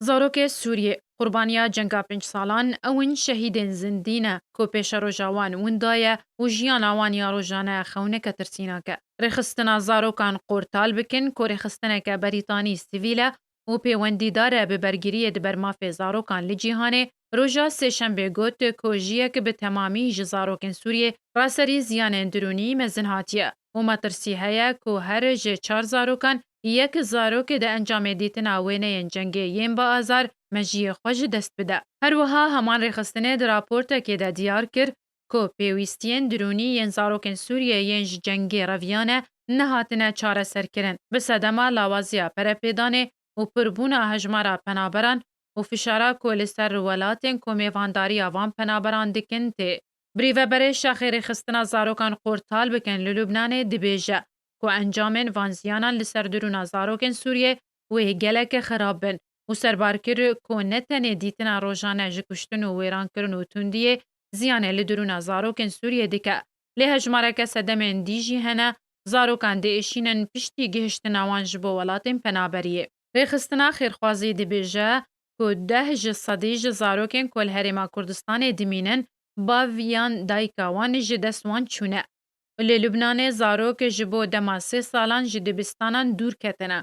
Zarokê Sûriyê, qurbaniya cenga pênc salan, ew in şehîdên zindî ne ku pêşeroja wan winda ye û jiyana wan ya rojane xewneke tirsînak e. Rêxistina zarokan qortal bikin ku rêxistineke berîtanî sivîl e û pêwendîdar e bi bergiriyê di ber mafê zarokan li cîhanê roja Sêşembê got ku jiyek bi temamî ji zarokên Sûriyê ra serî ziyanên dirûnî mezin hatiye û metirsî heye ku her ji çar zarokan yek zarok di encamê dîtina wêneyên cengê yên bi azar mejiyê xwe ji dest bide. Her wiha heman rêxistinê di raportekê de diyar kir ku pêwîstiyên dirûnî yên zarokên Sûriyê yên ji cengê reviyane nehatine çareserkirin bi sedema lawaziya perepêdanê û pirbûna hejmara penaberan û fişara ku li ser welatên ku mêvandariya van penaberan dikin tê. Birêveberê Şaxê Rêxistina Zarokan Qortal Bikin li Lubnanê dibêje ku encamên van ziyanan li ser dirûna zarokên Sûriyeyê wê gelekî xirab bin û serbar kir ku ne tenê dîtina rojane ji kuştin û wêrankirin û tundiyê ziyanê li dirûna zarokên Sûriyeyê dike lê hejmareke sedemên dî jî hene zarokan dê êşînin piştî gihiştina wan ji bo welatên penaberiyê. Rêxistina Xêrxwazî dibêje ku deh ji sedî ji zarokên ku li Herêma Kurdistanê dimînin bav yan dayika wan ji dest wan çûne. Li Lubnanê zarok ji bo dema sê salan ji dibistanan dûr ketine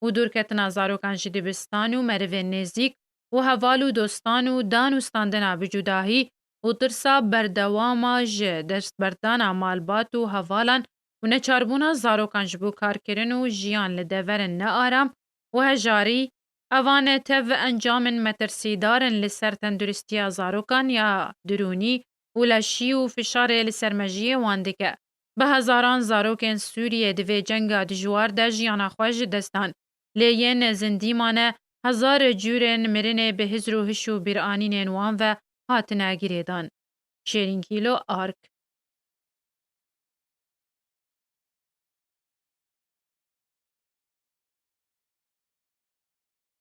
û dûrketina zarokan ji dibistan û merivên nêzîk û heval û dostan û dan û standina bi cudahî û tirsa berdewama ji destberdana malbat û hevalan û neçarbûna zarokan ji bo karkirin û jiyan li deverên nearam û hejarî, Evan e tev encamên metirsîdar in li ser tenduristiya zarokan ya dirûnî û leşî û fişarê li ser mejiyê wan dike. Bi hezaran zarokên Sûriyê di vê cenga dijwar de jiyana xwe ji dest dan. lê yên zindî mane, hezar curên mirinê bi hizr û hiş û bîranînên wan ve hatine girêdan. Şêrînkîlo, ark.